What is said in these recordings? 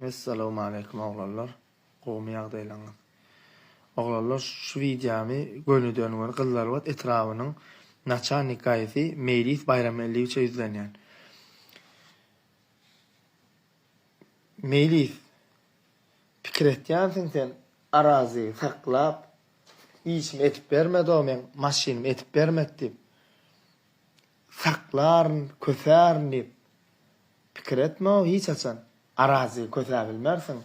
Essalawmaleýkum oglanlar gowmy ýagdaýlaňyz oglanlar şu wideamy gönüden göni gyzlarbat etrabynyň naçalnik gaýysy meýlis baýramgeldiýewiçe ýüzlenýän meýlis pikir etýänsiň sen arazy saklap işimi edip bermedi o meň maşynymy edip bermedi diýip. Saklaryn, kösärin diýip, pikir etme-ow hiç haçan. Arazy kösäp bilmersiň.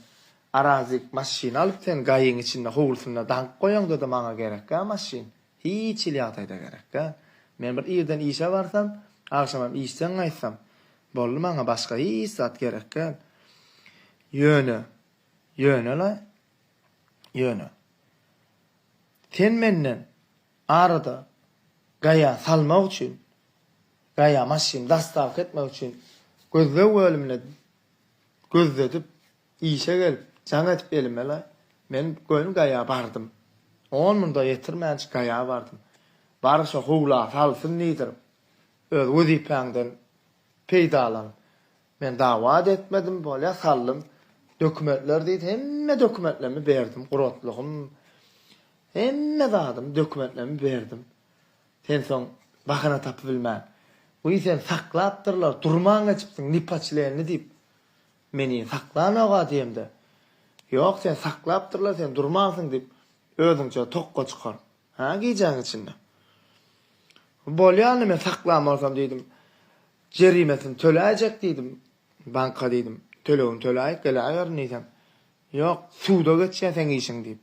Arazy maşyn alyp sen gaýyň içinde howlusynda daňyp goýaňda-da maňa gerek-ä maşyn. Hiç hili ýagdaýda gerek däl. Men bir irden işe barsam, agşamam işden gaýtsam, boldy maňa başga hiç zat gerek däl. Ýöne, ýöne-le, ýöne. Sen menden Arada Gaýa salmak üçin, Gaýa maşyny dastavka etmek üçin gözleg bölümine gözledip, işe gelip, jaň edip elimele, men göni Gaýa bardym. On munda ýetirmänçik Gaýa bardym. Bary şo howla salsyn diýdirip, öz wezipäňden peýdalan, Men dawa-da etmedim, bolýa saldym. Dokumentler diýdi, hemme dokumentlerimi berdim, guratlygym, hemme zadymy, dokumentlerimi berdim. Sen soň bahana tapybilmän, Wiý, seni saklapdyrlar, durman geçipsiň, nepoçlenli diýip, meni saklanok-a diýemde, Ýok, seni saklapdyrlar, sen durmansyň diýip, özüňçe tokga çykar, hä, gijäniň içinde. Bolýa onda, men saklan bolsam diýdim. Jerimesini töläýjek diýdim. Banka diýdim, tölegini töläýip geläýerin diýsem, Ýok, suda geçýär seň işiň diýip,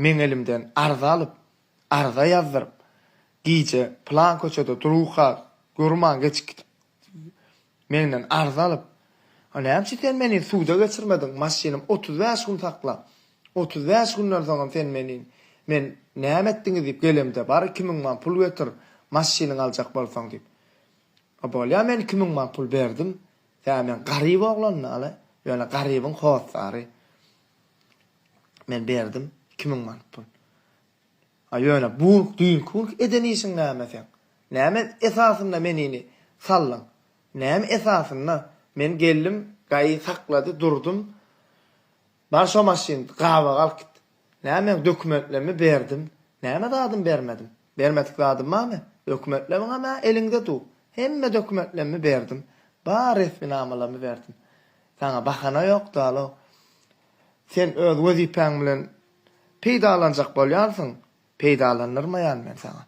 meň elimden arza alyp, arza ýazdyryp, gije plan köçede durka durman geçip gidip, menden arza alyp, A näme üçin sen meni suda geçirmediň, maşynym otuz bäş gün sakla. Otuz bäş günden soňam sen meni men näme etdiňiz diýip gelemde, bar iki müň man pul getir, maşynyňy aljak bolsaň diýip. A bolýa men iki müň man pul berdim. Tä men garyp oglan dal-a, ýöne garybyň hossary. Men berdim iki müň man pul. A ýöne bu düýnki günki eden işiň näme seň? Näme esasynda menini saldyň? Näme esasynda? Men geldim, gaýy saklady, durdum. Bar şo maşyn, gabaga alyp git. Näme meň dokumentlerimi berdim. Näme zadymy bermedim? Bermedik zadym barmy? Dokumentleriňem-ä eliňde dur. Hemme dokumentlerimi berdim. Bar resminamalarymy berdim. Saňa bahana ýok, dalo. Sen öz wezipäň bilen peýdalanjak bolýarsyň. Peýdalanyrmaýan men saňa.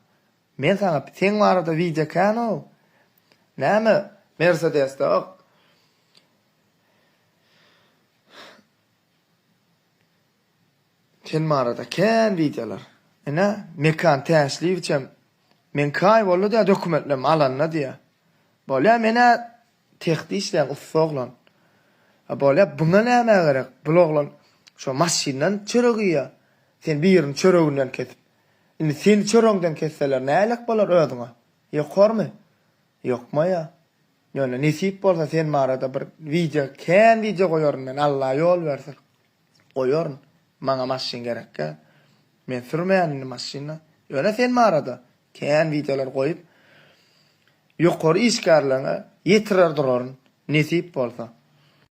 Men saňa seň barada wideo ekänoo näme mersedesde ok sen barada kän wideolar ine Mekan Täşliýewiçem men kaý boldy diýä dokumentlem alanda diýä bolýa menä Sehde işleýän ussa oglan. A bolýa buňa näme gerek bul oglan şo maşyndan çörek iýýa sen birini çöreginden kesip indi seni çöregiňden kesseler nälik bolar özüňe ýokarmy ýokmaýa ýöne nesip bolsa sen barada bir wideo kän wideo goýaryn men Alla ýol berse goýaryn maňa maşyn gerekgä men sürmeýän indi maşyna ýöne sen barada Kän wideolar goýup ýokary işgärlerňe ýetirer duraryn nesip bolsa.